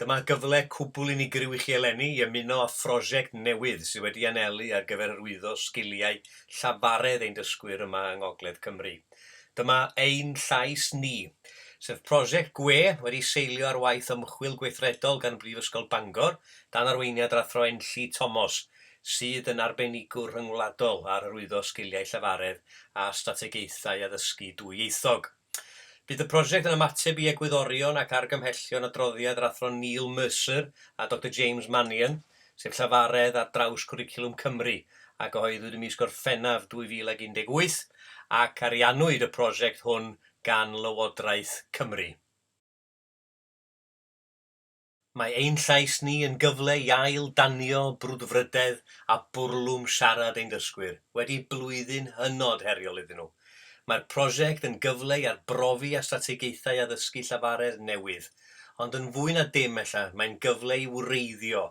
Dyma gyfle cwbl unigryw i chi eleni i ymuno â phrosiect newydd sydd wedi anelu ar gyfer hyrwyddo sgiliau llafaredd ein dysgwyr yma yng Ngogledd Cymru. Dyma Ein Llais Ni, sef prosiect gwe wedi seilio ar waith ymchwil gweithredol gan Brifysgol Bangor, dan arweiniad yr Athro Enlli Tomos, sydd yn arbenigwr rhyngwladol ar hyrwyddo sgiliau llafaredd a strategaethau addysgu dwyieithog. Bydd y prosiect yn ymateb i egwyddorion ac argymhellion adroddiad yr Athro Neil Mercer a Doctor James Mannion, sef Llafaredd ar draws Cwricwlwm Cymru, a gyhoeddwyd ym mis Gorffennaf 2018, ac ariannwyd y prosiect hwn gan Lywodraeth Cymru. Mae ein llais ni yn gyfle i ail danio brwdfrydedd a bwrlwm siarad ein dysgwyr wedi blwyddyn hynod heriol iddyn nhw. Mae'r prosiect yn gyfle i arbrofi a strategaethau addysgu llafaredd newydd, ond yn fwy na dim ella mae'n gyfle i wreiddio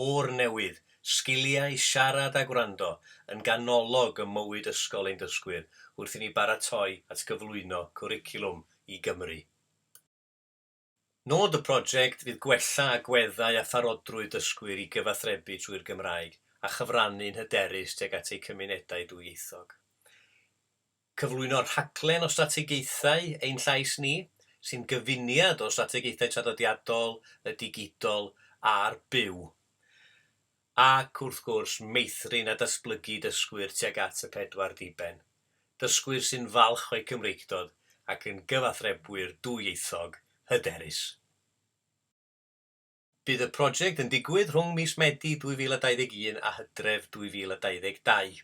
o'r newydd sgiliau siarad a gwrando yn ganolog ym mywyd ysgol ein dysgwyr wrth i ni baratoi at gyflwyno cwricwlwm i Gymru. Nod y project fydd gwella agweddau a pharodrwydd dysgwyr i gyfathrebu trwy'r Gymraeg a chyfrannu'n hyderus tuag at eu cymunedau dwyieithog. Cyflwyno rhaglen o strategaethau Ein Llais Ni, sy'n gyfuniad o strategaethau traddodiadol, y digidol a'r byw. Ac, wrth gwrs, meithrin a datblygu dysgwyr tuag at y pedwar diben, dysgwyr sy'n falch o'u Cymreictod ac yn gyfathrebwyr dwyieithog hyderus. Bydd y project yn digwydd rhwng mis Medi 2021 a Hydref 2022.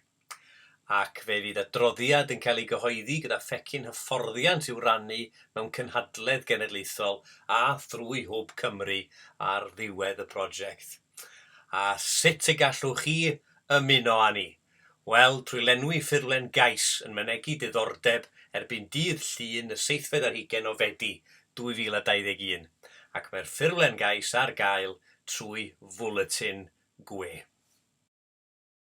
ac fe fydd adroddiad yn cael ei gyhoeddi gyda phecyn hyfforddiant i'w rannu mewn cynhadledd genedlaethol a thrwy Hwb Cymru ar ddiwedd y prosiect. A sut y gallwch chi ymuno â ni? Wel, trwy lenwi ffurflen gais yn mynegi diddordeb erbyn dydd Llun y seithfed ar hugain o Fedi 2021, ac mae'r ffurflen gais ar gael trwy fwletin gwe.